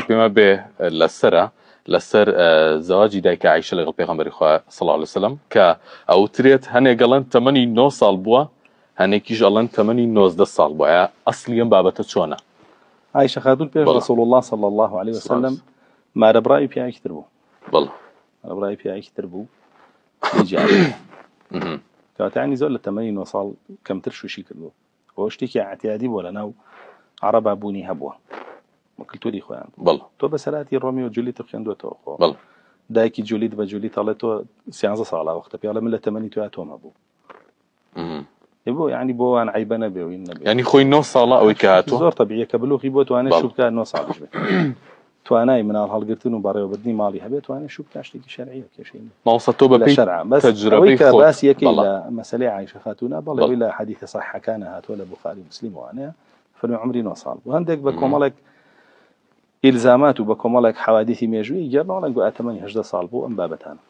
پێما بێ لەسرە لەسەر زەواجی دایکە عیشە لەگەڵ پێغمبەری خوا سڵاو لەسلم کە ئەوترێت هەنێک گەڵەن تەمەنی 9 ساڵ بووە هەنێکیش ئەڵەن تەمەنی 19 ساڵ بواە ئەسلی ئەم بابەتە چۆنە عیشە خاتون پێ رسول الله صلى الله عليه وسلم مارە بڕاوی پیاکی تر بوو بڵ ڕای پیاکی تر بوو کاتانی زۆر لە تەمەنی 9 ساڵ کەمتر شوشی کردو ئەوە شتێکی عتیادی بووە لە ناو عەڕەبا بوونی هەبووە بە کلتوری خۆیان بوو بەڵ تۆ بەسەراتی ڕۆمی و جولیت خوێندوێتەوە خۆ بەڵ دایکی جولیت بە جولیت هەڵێ تۆ سیانزە ساڵا وەختە پیاڵە من لە تەمەنی تویا تۆمە بوو مم. ی بۆ یعنی بۆ وان عیبە نەبێ و این نەبێ یعنی خۆی نۆ ساڵە ئەوەی کە هاتووە زۆر طبیعیە کە بلوغی بۆ توانێت بەڵ. شوو بکات نۆ ساڵیش بێت توانای مناڵ هەڵگرتن و بەڕێوەبردنی ماڵی هەبێت توانێت شو بکات شتێکی شەرعیە کێشەی نیە ماوەسە تۆ بە لە پێی شەرع بەس ئەوەی تەجربەی کە خۆت باسی یەکەی بەڵا. لە مەسەلەی عایشە خاتوونە بەڵێ بەڵ. ئەوەی لە حەدیثە صەحیحەکانە هاتووە لە بوخاری و مسلیم وانەیە فەرمی عەمری نۆ ساڵ بوو هەندێک بە کۆمەڵێک ئیلزامات و بە کۆمەڵێک حەوادیثی مێژوویی گێڕنەوەڵێن گوایە تەمەنی هەژدە ساڵ بوو ئەم بابەتانە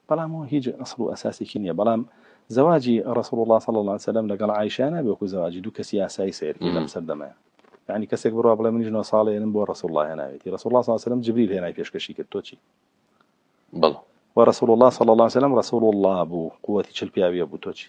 بەڵام ئەوە هیچ ئەسڵ و ئەساسێکی نیە بەڵام زەواجی ڕەسوڵ اللە صلی اللە علیە وسلم لەگەڵ عائیشە نابێ وەکو زەواجی دوو کەسی ئاسایی سەیر کەی لەم سەردەمەیا یانی کەسێک بڕوا بڵێ منیش نۆ ساڵ هێنم بۆ ڕەسوڵ اللە هێناوێتی ڕەسوڵ اللە صلی اللە علیە وسلم جبریل هێنای پێشکەشی کرد تۆ چی بەڵێ ورسول الله صلى الله عليه وسلم رسول الله بو قوتي چل پیاویە بو تو چی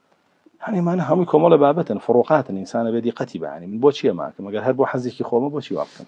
هەنی مانە هەمووی کۆمەڵە بابەتن فڕۆقاتن ئینسانە بێ دیقەتی بەیانی من بۆ چیە ماکەم ئەگەر هەر بۆ حەزێکی خۆمە بۆچی وا بکەم